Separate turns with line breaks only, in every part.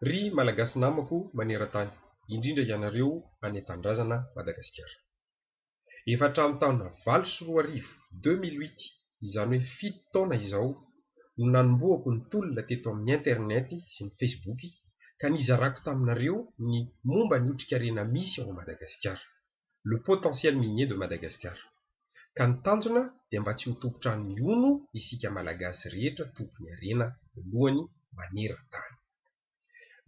Ry Malagasy namako maneran-tany, indrindra ianareo any an-tanindrazana Madagasikara. Efa hatramin'ny taona valo sy roa arivo, deux mille huit, izany hoe fito taona izao, no nanombohako ny tolona teto amin'ny Internet sy ny Facebook ka nizarako taminareo ny momba ny otrikarena misy ao Madagasikara. le potentiel minier de Madagascar. Ka ny tanjona dia mba tsy ho tompon-trano mihono isika Malagasy rehetra tompony harena voalohany maneran-tany.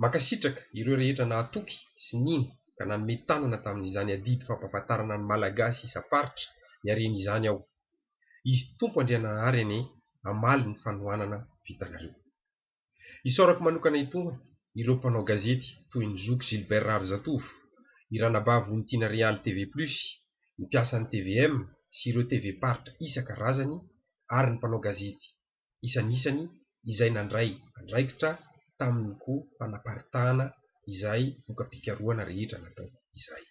Mankasitraka ireo rehetra nahatoky sy nino ka nanome tanana tamin'izany adidy fampahafantarana ny Malagasy isam-paritra ny hareny izany aho. Izy Tompo Andriananahary anie hamaly ny fanohanana vitanareo. Isaorako manokana itony ireo mpanao gazety toy ny zoky Gilbert Raharizatovo, i Ranabavy Vonitiana Real TV Plus, ny mpiasan'ny tvm sy ireo TV paritra isaka razany ary ny mpanao gazety isanisany izay nandray andraikitra tamin'ny ko fanaparitahana izay voka-pikarohana rehetra natao izay.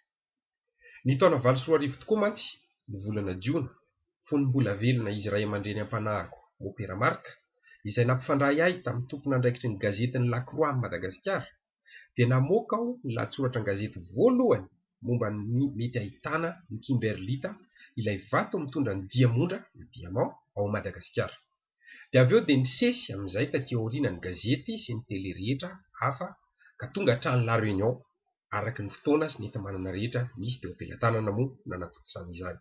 Ny taona valo sy roa arivo tokoa mantsy no volana Jiona, fony mbola velona izy ray aman-dreny am-panahiko Mopera Marc, izay nampifandray ahy tamin'ny tompon'andraikitry ny gazety ny La Croix an'i Madagasikara, dia namoaka aho ny lahatsoratra an-gazety voalohany momba ny mety ahitana ny kimberlita, ilay vato mitondra ny diamondra, le diamant, ao Madagasikara. Dia avy eo dia nisesy amin'izay taty aoriana ny gazety sy ny tele rehetra hafa ka tonga hatrany La Réunion araka ny fotoana sy ny enti-manana rehetra nisy teo am-pelatanana moa nanatontosana izany.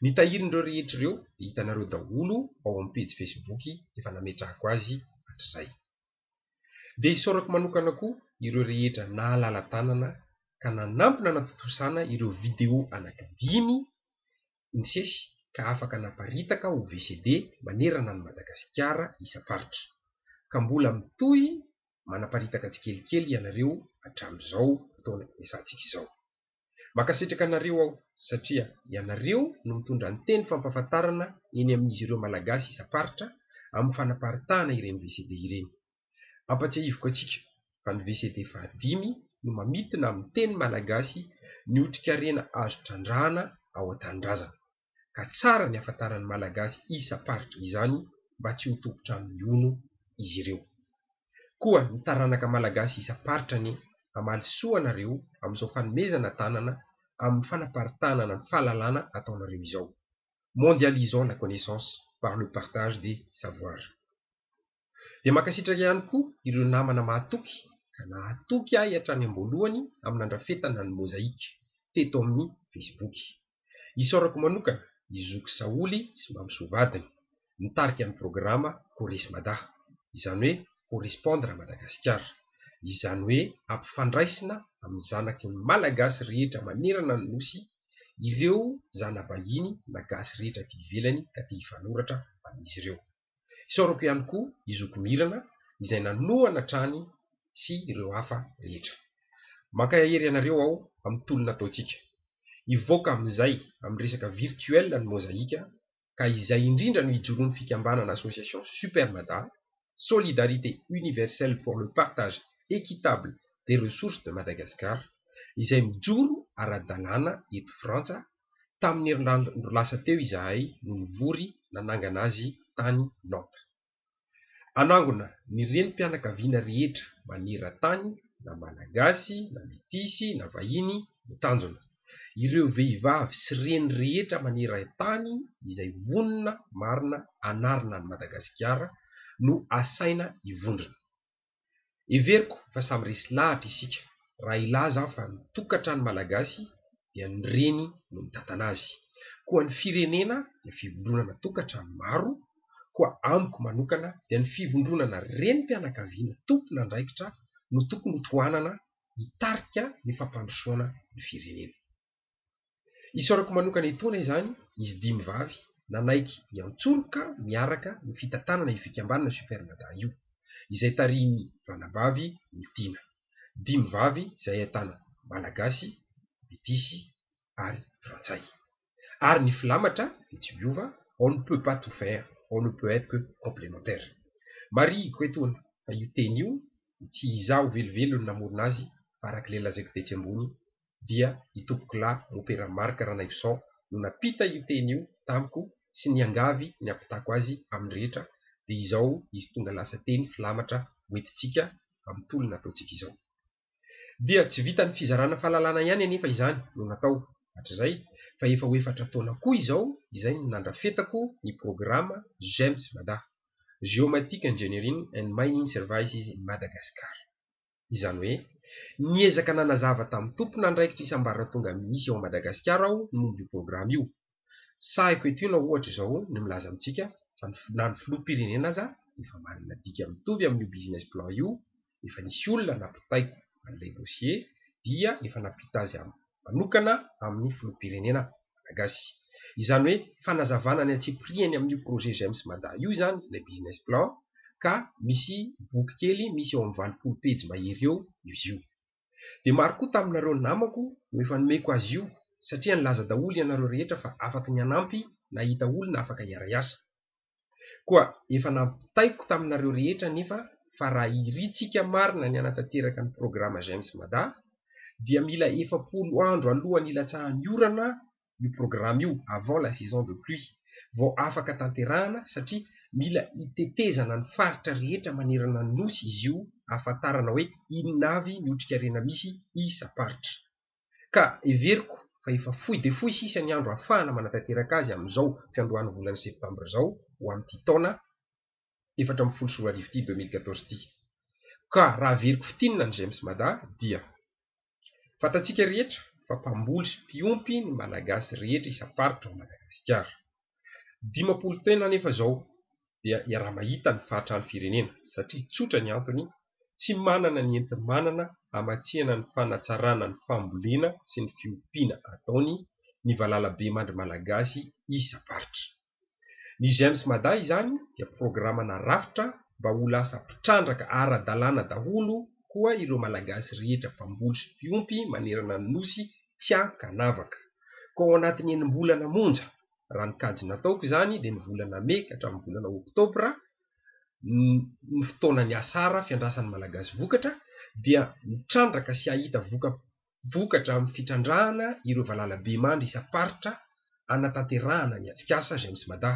Ny tahirin'ireo rehetra ireo dia hitanareo daholo ao amin'ny pejy Facebook efa nametrahako azy hatrizay. Dia isaorako manokana koa ireo rehetra nahalala tanana ka nanampy nanatontosana ireo video anaky dimy nisesy ka afaka naparitaka ho VCD manerana an'i Madagasikara isam-paritra. Ka mbola mitohy manaparitaka tsikelikely ianareo hatramin'izao fotoana iasantsika izao. Mankasitraka anareo aho satria ianareo no mitondra ny teny fampahafantarana eny amin'izy ireo Malagasy isam-paritra amin'ny fanaparitahana ireny VCD ireny. Ampatsiahiviko antsika fa ny VCD fahadimy no mamintina amin'ny teny Malagasy ny otrikarena azo trandrahana ao an-tanindrazana. ka tsara ny afantaran'ny Malagasy isam-paritra izany mba tsy ho tompon-trano mihono izy ireo. Koa ny taranaka Malagasy isam-paritra anie hamaly soa anareo amin'izao fanomezana tanana amin'ny fanaparitahana ny fahalalana ataonareo izao. Mondialisons la connaissance par le partage des savoirs. Dia mankasitraka ihany koa ireo namana mahatoky ka nahatoky ahy hatrany am-boalohany amin'ny nandrafetana ny Mozaïque teto amin'ny Facebook. Isaorako manokana i zoky Saholy sy Mamisoa vadiny, mitarika ny programa Corresmada, izany hoe Correspondre à Madagascar, izany hoe ampifandraisina amin'ny zanaky ny Malagasy rehetra manerana ny Nosy ireo zana-bahiny na gasy rehetra aty ivelany ka te hifanoratra amin'izy ireo. Isaorako ihany koa i zoky Mirana izay nanohana hatrany sy ireo hafa rehetra. Mankaya hery anareo aho amin'ny tolona ataontsika. Hivoaka amin'izay amin'ny resaka virtuel ny Mozaïka ka izay indrindra no hijoroan'ny fikambanana Association Super Mada, Solidarité Universelle pour le Partage Equitable des Ressources de Madagascar, izay mijoro ara-dalàna eto Frantsa Tamin'ny herinandro lasa teo izahay no nivory nanangana azy tany Nantes. Anangona ny renim-pianakaviana rehetra maneran-tany na Malagasy na Metisy na vahiny no tanjona. Ireo vehivavy sy reny rehetra maneran-tany izay vonona marina hanarina an'i Madagasikara no asaina hivondrona. Heveriko fa samy resy lahatra isika raha hilaza aho fa ny tokantrano malagasy dia ny reny no mitantana azy. Koa ny firenena dia fivondronana tokantrano maro, koa amiko manokana dia ny fivondronana renim-pianakaviana tompon'andraikitra no tokony ho tohanana hitarika ny fampandrosoana ny firenena. Isaorako manokana etoana izany izy dimy vavy nanaiky hiantsoroka miaraka ny fitantanana io fikambanana Super Mada io, izay tarihin'ny Ranabavy Oltiana. Dimy vavy izay ahitana Malagasy, Metisy ary Frantsay. Ary ny filamatra dia tsy miova, on ne peut pas tout faire, on ne peut être que complémentaire. Marihiko etoana fa io teny io dia tsy izaho velively no namorona azy fa arak'ilay lazaiko tetsy ambony dia i Tompokolahy Mopera Marc Ranaivoson no nampita io teny io tamiko sy niangavy ny hampitako azy amin'ny rehetra dia izao izy tonga lasa teny filamatra hoentintsika amin'ny tolona ataontsika izao. Dia tsy vitan'ny fizarana fahalalana ihany anefa izany no natao hatrizay fa efa ho efatra taona koa izao izay no nandrafetako ny programa GEMS Mada, Geomatic Engineering and Mining Services in Madagascar. Izany hoe, niezaka nanazava tamin'ny tompon'andraikitra isam-barratonga misy ao Madagasikara aho ny momba io programa io. Sahiko eto na ohatra izao ny milaza amintsika fa ny na ny filoham-pirenena aza efa manana dika mitovy amin'io business plan io, efa nisy olona nampitaiko an'ilay dossier dia efa nampita azy amin'ny. manokana amin'ny filoham-pirenena malagasy. Izany hoe fanazavana ny antsipiriany amin'io projet GEMS Mada io izany ilay business plan ka misy boky kely misy eo amin'ny valopolo pejy mahery eo izy io. Dia maro koa taminareo namako no efa nomeko azy io satria nilaza daholo ianareo rehetra fa afaky ny hanampy nahita olona afaka hiara-hiasa. Koa efa nampitaiko taminareo rehetra anefa fa raha irintsika marina ny hanatanteraka ny programa J'aime Mada dia mila efapolo andro alohan'ny hilatsahan'ny orana io programa io, avant la saison de pluie, vao afaka tanterahana satria mila hitetezana ny faritra rehetra manerana ny Nosy izy io hahafantarana hoe inona avy ny otrikarena misy isam-paritra. ka heveriko fa efa fohy dia fohy sisa ny andro ahafahana manatanteraka azy amin'izao fiandohan'ny volana septambra izao ho amin'ity taona efatra ambin'ny folo sy roa arivo ity, deux mille quatorze, ity. Ka raha averiko fintinina ny Gems Mada dia. Fantatsika rehetra fa mpamboly sy mpiompy ny Malagasy rehetra isam-paritra ao Madagasikara. Dimampolo taona anefa izao dia iaraha-mahita ny fahatran'ny firenena satria tsotra ny antony, tsy manana ny enti-manana hamatsihana ny fanatsarana ny fambolena sy ny fiompiana ataony ny valalabemandry malagasy isa-paritra. Ny GEMS Mada izany dia programa na rafitra mba ho lasa mpitrandraka ara-dalàna daholo koa ireo malagasy rehetra mpamboly sy mpiompy manerana ny Nosy tsy ahy ka navaka. Koa ao anatin'ny enim-bolana monja, raha ny kajy nataoko izany dia ny volana mey ka hatramin'ny volana oktobra, ny fotoana niasara fiandrasan'ny Malagasy vokatra, dia mitrandraka sy hahita vokatra amin'ny fitrandrahana ireo valalabemandry isam-paritra, hanatanterahana ny atrikasa James Mada,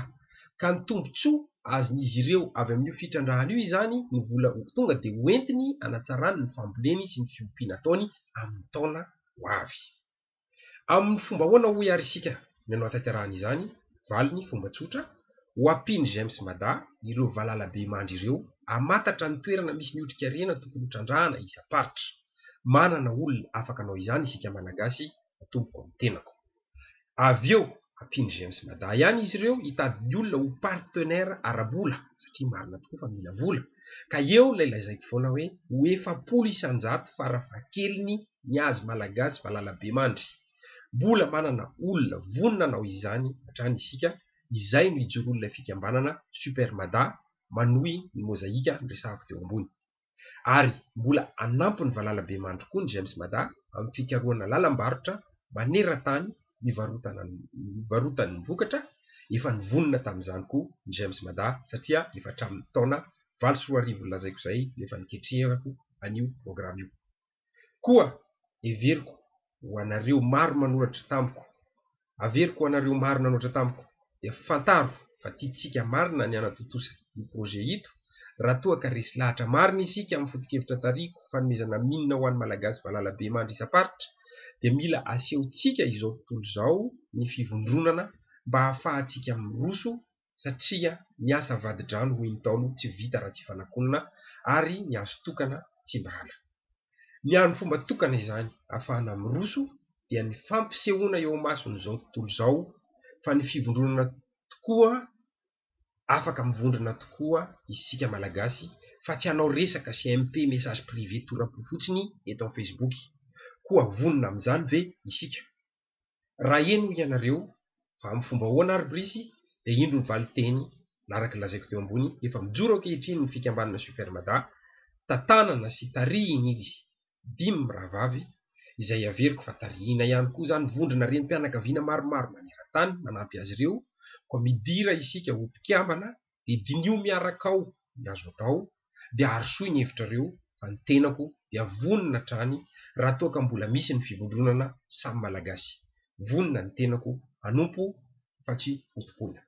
ka ny tombontsoa azon'izy ireo avy amin'io fitrandrahana io izany no vola ho tonga dia ho entiny hanatsarany ny famboleny sy ny fiompiana ataony amin'ny taona ho avy. Amin'ny fomba ahoana hoy ary isika no hanatanterahana izany? Valiny fomba tsotra, ho ampian'i James Mada ireo valalabemandry ireo hamantatra ny toerana misy ny otrikarena tokony ho trandrahana isam-paritra. Manana olona afaka hanao izany isika Malagasy, atomboko amin'ny tenako. Avy eo, ampian'i James Mada ihany izy ireo hitady ny olona ho partenaire ara-bola, satria marina tokoa fa mila vola, ka eo ilay lazaiko foana hoe ho efapolo isan-jato farafahakeliny ny azy Malagasy valala be mandry. Mbola manana olona vonona hanao izany hatrany isika, izay no ijoroan'ilay fikambanana Super Mada, manohy ny mozaika niresahako teo ambony. ary mbola hanampy ny valalabemandry koa ny GEMS Mada amin'ny fikarohana lalam-barotra maneran-tany hivarotana ny hivarotany ny vokatra, efa nivonona tamin'izany koa ny GEMS Mada satria efa hatramin'ny taona valo sy roa arivo nolazaiko izay no efa niketrehako an'io programa io. Koa heveriko ho anareo maro manoratra tamiko, averiko ho anareo maro nanoratra tamiko dia fantaro fa tiantsika marina ny hanatontosa io projet ito raha toa ka resy lahatra marina isika amin'ny foto-kevitra tarihiko fanomezana mine ho an'ny Malagasy valala be mandry isam-paritra dia mila asehontsika izao tontolo izao ny fivondronana mba hahafahantsika miroso satria ny asa vadi-drano hoy ny Ntaolo tsy vita raha tsy fanakonana ary ny azo tokana tsy mba ala. Ny an'ny fomba tokana izany afahana miroso dia ny fampisehoana eo amason'izao tontolo izao fa ny fivondronana tokoa afaka mivondrona tokoa isika malagasy fa tsy hanao resaka CMP message privé tora-po fotsiny eto amin'ny facebook. Koa vonona amin'izany ve isika? Raha heno hoy ianareo fa amin'ny fomba ahoana ary Brice dia indro ny valinteny na araka ny lazaiko teo ambony efa mijoro ankehitriny ny fikambanana Super Mada tantanana sy tarihin'izy dimy rahavavy izay averiko fa tarihina ihany koa izany vondrona renim-pianakaviana maromaro maneran-tany manampy azy ireo koa midira isika ho mpikambana dia diniho miaraka ao ny azo atao dia arosoy ny hevitrareo fa ny tenako dia vonona hatrany raha toa ka mbola misy ny fivondronana samy malagasy vonona ny tenako hanompo fa tsy hotompoina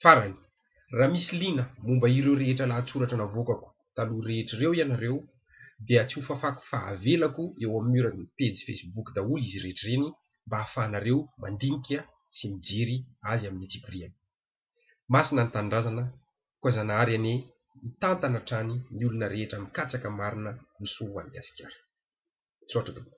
farany raha misy liana momba ireo rehetra lahatsoratra navoakako taloha rehetra ireo ianareo dia tsy hofafako fa avelako eo amin'ny mur ny pejy facebook daholo izy rehetra ireny mba hahafahanareo mandinika sy mijery azy amin'ny antsipiriany. Masina ny Tanindrazana koa Zanahary anie hitantana hatrany ny olona rehetra mikatsaka marina ny soa ho an'i Gasikara. Misaotra tompoko.